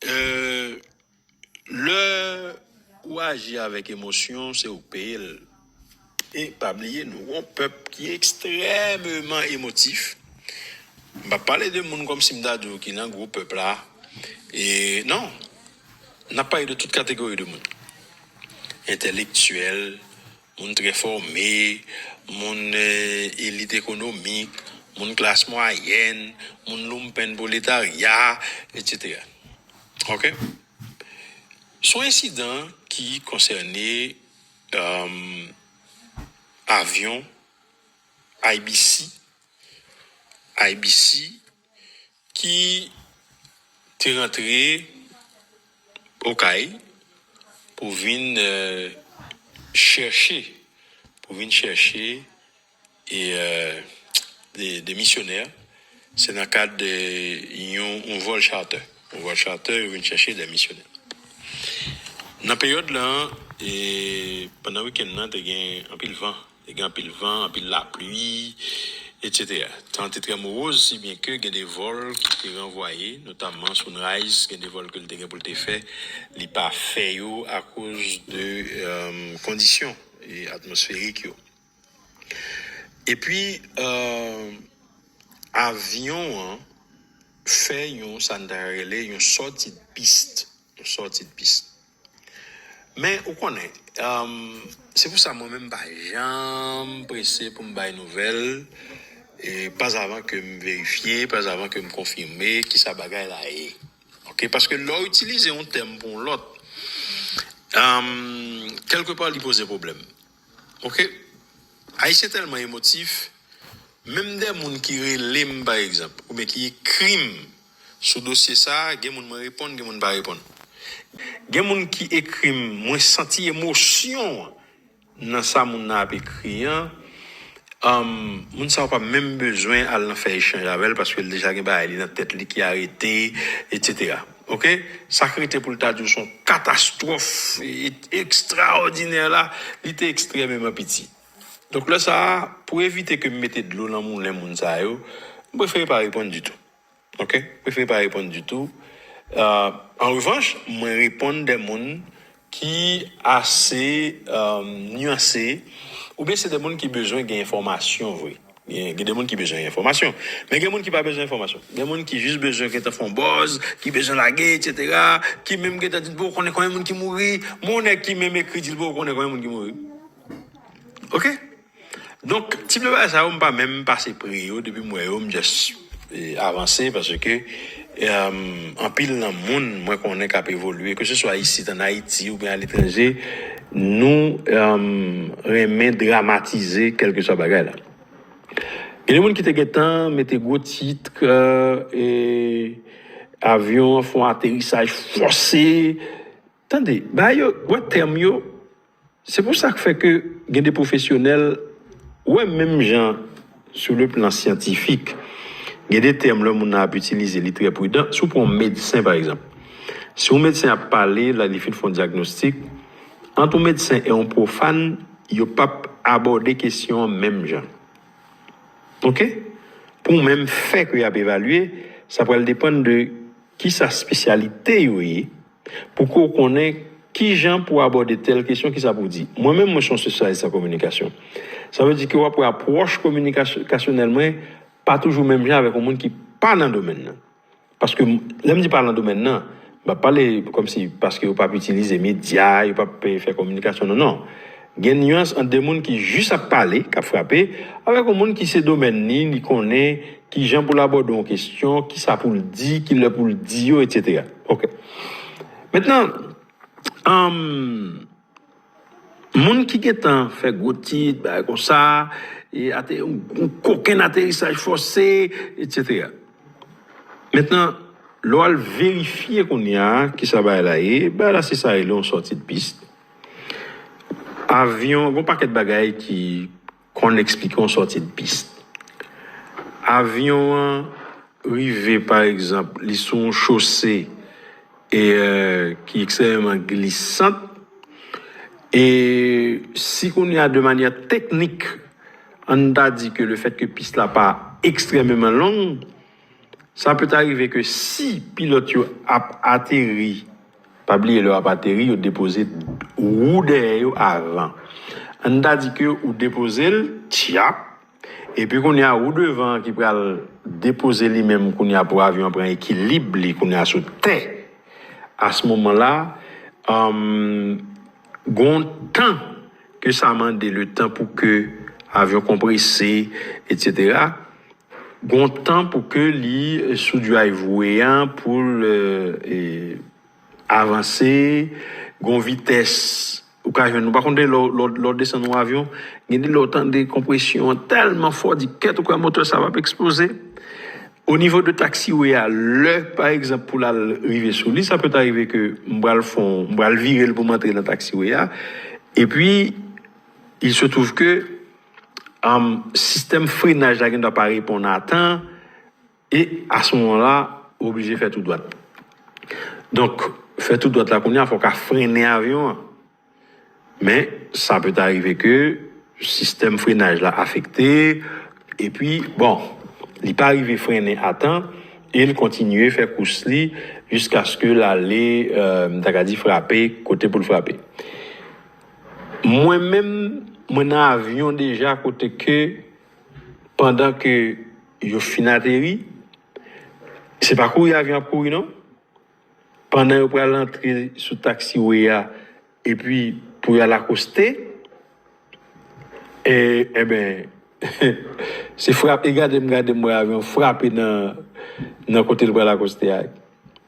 Euh lè ou aji avèk emosyon se ou k peye l e pa bliye nou gon pèp ki ekstrèmeman emotif m pap pale de moun kòmsi m ta di w ki nan gwo pèp la e non n ap pale de tout kategori de moun entèlektyèl moun trè fòme, moun elit ekonomik, moun klas mwayèn, moun loumpen pwoletarya, etsetera. Ok. Son ensidan ki konsène avyon IBC, IBC. ki te rantre Okay pou vin chèche, pou vin chèche e de misyonè, se nan kad de yon vòl charter, yon vòl charter yo vin chèche de misyonè. Nan peryòd lan, pandan wikenn nan te gen anpil van. Te gen anpil van, anpil lapli, etsetera. Tan an te trè moroz, si byen ke gen de vòl ki te ranvwaye, notamman Sunrise, gen de vòl ke li te gen pou li te fè, li pa fè yo akoz de kondisyon atmosferik yo. Epi, avyon an fè yon sa n ta rele yon sòti de piste, yon sòti de piste. Men, ou konnen, se pou sa mwen menm m pa janm prese pou m bay nouvèl, pazavan ke m verifye, pazavan ke m konfime ki sa bagay la ye. Ok, paske lè w itilize yon tèm pou yon lòt, kèlke pa li poze pwoblèm. Ok ayisyen tèlman emotif menm de moun ki relem pa egzanp ou byen ki ekrim sou dosye sa gen moun mwen reponn gen moun mpa reponn gen moun ki ekrim mwen santi emosyon nan sa moun nan ap ekri an humm moun sa ou pa menm bezwen al nan fè echanj avèl paskel deja gen bagay li nan tèt li ki arete etc. Ok sak rete poul ta diw son katastrof extraordinaire la li te extrememan piti donk lè sa pou evite kem mete dlo nan moulen moun sa yo m prefere pa reponn ditou ok m prefere pa reponn ditou an revanch mwen reponn de moun ki ase nuanse oubyen se de moun ki bezwen gen enfòmasyon vre gen de moun ki bezwen gen enfòmasyon men gen moun ki pa bezwen enfòmasyon gen moun ki jis bezwen gentan fon bòz ki bezwen lage etc ki menm gentan di l bon konnen konbyen moun ki mouri men yon nèg ki menm ekri di l bon konnen konbyen moun ki mouri ok. Donk tip de bagay sa yo m pa menm pase pre yo depi m wè yo m just avanse paske anpil nan moun mwen konnen kap evolye ke se swa isit an Ayiti oubyen a letranje nou renmen dramatize kelke swa bagay la gen de moun ki te gentan mete gwo titk avyon an fon aterisaj fòse. Tande, bagay yo, wè tèm yo, se pou sa k fè ke gen de pwofesyonèl, wè menm jan sou le plan syantifik, gen de tèm lè moun nan ap itilize li trè pridan, si w pran yon medsen pa egzanp, si yon medsen ap pale lè li fin fè yon dyagnostik, ant yon medsen e yon pwofàn, yo p ap abòde kesyon an menm jan. Ok? Pou yon menm fè ke y ap evalye, sa pral depann de ki sa spesyalite yo ye, Pou ke w konnen ki jan pou w abòde tèl kesyon, ki sa pou w di. Mwen menm, mwen se yon spesyalis an kominikasyon. Sa vle di ke w ap wè apwòch kominikasyonèl mwen pa toujou menm jan avèk yon moun ki pa nan domèn nan. Paske, lè m di pa nan domèn nan, m ap pale kòm si paske yo pa ap itilize medya, yo pa ap fè kominikasyon, non, non. Gen nuance ant 2 moun ki jis ap pale, kap frape, avèk yon moun ki se domèn li, li konnen kijan pou l abòde yon kestyon, kisa pou l di, kilè pou l di yo, etc. Ok. Mentnan, anm, moun ki gentan fè gwo tit, bagay konsa, e ate, yon kokenn aterisaj fòse, etc. Mentnan, lè w al verifye kounya kisa bagay la ye, bagay la se sa yo rele yon sòti de piste. Avyon, gon pakèt bagay ki konn eksplike yon sòti de pis. Avyon an rive pa egzanp li sou yon chose e ki ekstrèmeman glisant e si kounye a de manyè teknik an ta di ke le fèt ke pis la pa ekstrèmeman long, sa pèt arive ke si pilòt yo ap ateri. Pa bliye lè wap ateri yo depoze wou dèyè yo avan. Ann ta di ke ou depozel tchap epi kounye a wou devan an ki pral depoze li menm kounye a pou avyon an pran ekilib li kounye a sou tè. A s moman la umm gon tan ke sa mande le tan pou ke avyon konprese etc. Gon tan pou ke li sou dry voue an pou l avanse, gon vitès ou ka jwenn, ou pa konn de lè w desann yon avyon, gen de lè w tande konpresyon an tèlman fò, w di kèt ou kwè motè sa pap eksploze. O nivo de taxiway a, lè pa egzanp pou l al rive sou li, sa pèt arive ke m pral fè yon, m pral vire l pou m antre nan taxiway a, epi il se trouve ke. sistèm frenaj la gen dwa pa reponn a tan e a se moman la ou oblije fè tou dwat donk fè tou dwat la kounye a fòk a frennen avyon an men sa pe ta rive ke sistèm frenaj la afekte e pi bon li pa rive frennen a tan e li kontinye fè kous li jiskaske l ale m ta ka di frape kote pou l frape. Mwen menm mwen nan avyon deja kote ke pandan ke yo fin ateri, se pa kouri avyon ap kouri non, pandan yo pral antre sou taxiway a epi pou yal akoste e enben se frap e gadem gadem wè avyon frape nan kotel pral akoste a.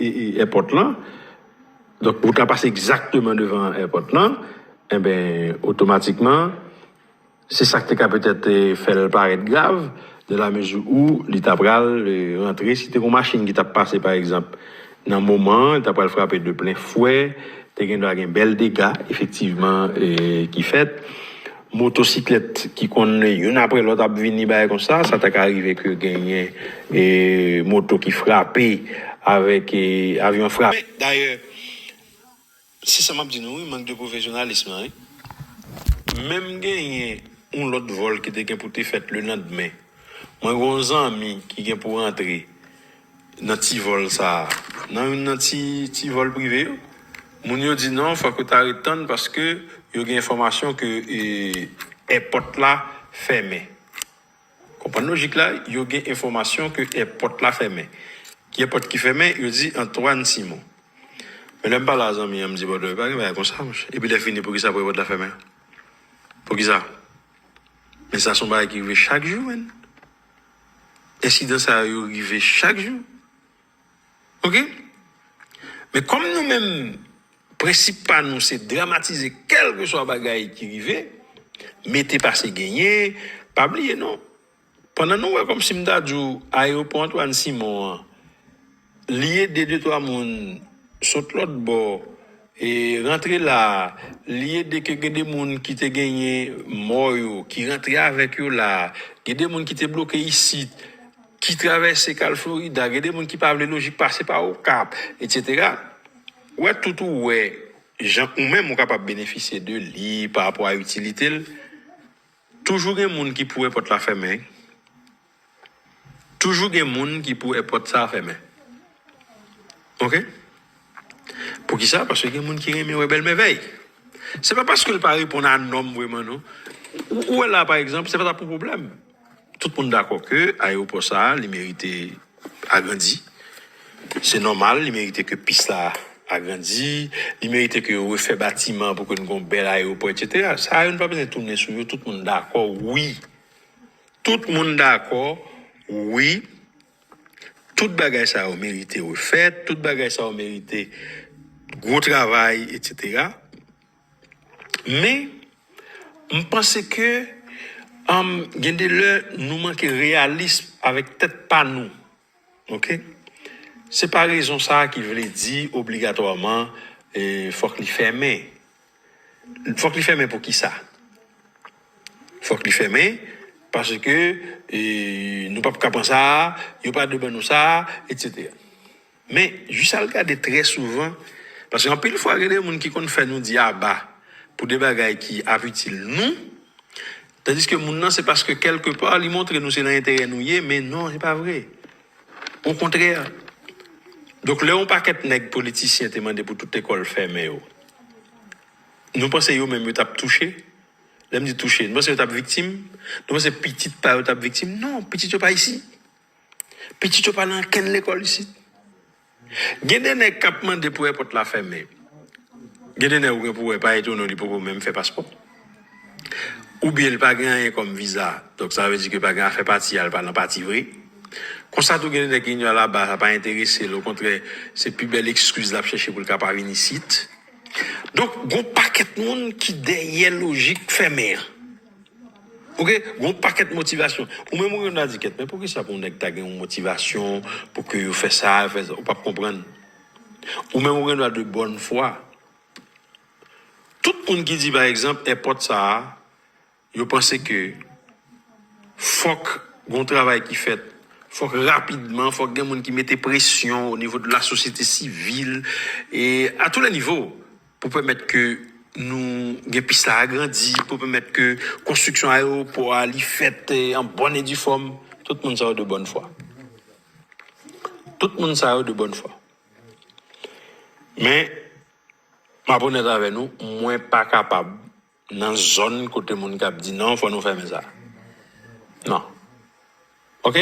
èpòt lan, donk wout la pase egzakteman devan èpòt lan, enben otomatikman se sa k te ka petèt fè l parèt grav, nan lamezi ou li ta pral rantre, si te gen yon machin ki t ap pase pa egzanp nan moman an, li ta pral frape de plen fwe, te gendwa gen bèl dega efektivman ki fèt. Motosiklèt ki konn youn aprè lòt ap vini bagay konsa, sa ta ka rive ke genyen moto ki frape avèk avyon frape. Men, dayè, se sa m ap di nou wi, mank de pwofesyonalism lan wi. Menm genyen yon lòt vòl ki te gen pou te fèt lelandmen, mwen gen yon zanmi ki gen pou rantre. Nan ti vòl sa a. Nan youn nan ti ti vòl prive yo. Moun yo di non fòk ou ta ret tann paske yo gen enfòmasyon ke èpòt la fèmen. Konprann lojik la, yo gen enfòmasyon ke èpòt la fèmen. Ki èpòt ki fèmen? Yo di Antoine Simon. Men lè m pale a zanmi an m di bon e pa gen bagay konsa monchè. Epi lè fini poukisa pou èpòt la fèmen? Poukisa? Men sa se yon bagay ki rive chak jou menn. Ensidan sa yo rive chak jou ok men kòm nou menm prensip pa nou se dramatize kèlkeswa bagay ki rive mete pase genyen pa bliye non pandan nou wè kòmsi m ta di w ayewopò Antwàn Simon an Li ede de twa moun sot lòt bò rantre la, li ede ke gen de moun ki te genyen mò yo ki rantre avèk yo la, gen de moun ki te bloke isit ki travèse kal Florida, gen de moun ki pa vle lojik pase pa Okap, etsetera. Ou wè tout ou wè jan ou menm ou kapab benefisye de li pa rapò a itilite l, toujou gen moun ki pou wè pòt la fèmen. Toujou gen moun ki pou e pòt sa fèmen ok poukisa paske gen moun ki renmen wè bèl mèvèy se pa paske l pa reponn a nòm vreman non ou wè la pa egzanp se pa ta pou pwoblèm tout moun dakò ke ayewopò sa li merite agrandi se nòmal li merite ke pis la agrandi li merite ke yo refè batiman pou ke nou gen yon bèl ayewopò etsetera sa yo nou pa bezwen tounen sou yo tout moun dakò wi Tout moun dakò wi tout bagay sa yo merite refèt, tout bagay sa yo merite gwo travay etc. Men m panse ke gen de lè nou manke reyalism avèk tèt pa nou. Ok. Se pa rezon sa a ki vle di obligatwaman fòk li fèmen. Fòk li fèmen pou ki sa? Fòk li fèmen paske nou pap ka pran sa a, yo pa dwe ban nou sa a, etsetera. Men, jij sa al gade trè souvan, paske anpil fwa gen de moun ki konn fè nou di aba pou de bagay ki ap itil nou, Tandiske moun nan se paske kèlke pa li montre nou se nan enterè nou ye men non se pa vre. Okontrè. Donk lè yon pakèt nèg politisyen te mande pou tout lekòl fèmen yo, nou panse yo menm yo t ap touche? Lè m di touche, nou panse yo t ap viktim? Nou panse pitit pa yo t ap viktim? Non, pitit yo pa isit. Pitit yo pa nan ankenn lekòl isit. Gen de nèg kap mande pou èpòt la fèmen. Gen de nèg ou gen pou wè pa etono li poko menm fè paspò. Oubyen li pa gen anyen kòm viza. Donk sa vle di ke pa gen afè pati a li pa nan pati vre. Konsa tou gen de nèg ki vini laba sa pa enterese l okontrè se pi bèl ekskiz lap chèche pou l ka pa vin isit. Donk gon pakèt moun ki dèyè lojik fèmen an. Ok gon paket motivation ou menm ou renmn adiket men poukisa pou neg ta gen yon motivation pou ke yo fè sa yo fè sa ou pap konprann ou menm ou gen dwa de bòn fwa tout moun ki di pa egzanp èpòt sa yo panse ke fòk gon travay ki fèt fòk rapidman fòk gen moun ki mete presyon o nivo de la sosyete sivil e a tou lè nivo. pou pèmèt ke nou gen pis la agrandi, pou pèmèt ke konstriksyon ayewopò a li fèt an bòn e di fòm, tout moun sa yo de bòn fwa. Tout moun sa yo de bòn fwa. Men, m ap onèt avè nou, mwen pa kapab. Nan zòn kote moun kap di nan fò nou fèmen sa nan ok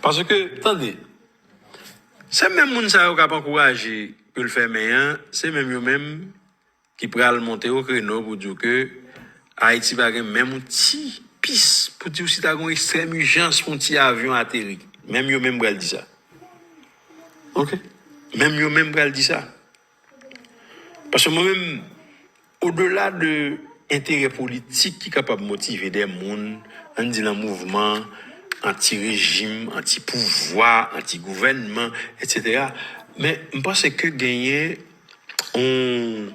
paske tande se menm moun sa yo kap ankouraje pou l fèmen an se menm yo menm ki pral monte o kreno pou di w ke ayiti pa gen menm yon ti pis pou di w si ta gen yon ekstrèm ijans pou yon ti avyon ateri menm yo menm pral di sa ok menm yo menm pral di sa. Paske mwen menm, odela de enterè politik ki kapab motive dè moun, ann di nan mouvman anti rejim, anti pouvwa, anti gouvènman, etsetera, men m panse ke genyen yon,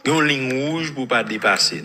gen yon liy wouj pou w pa depase.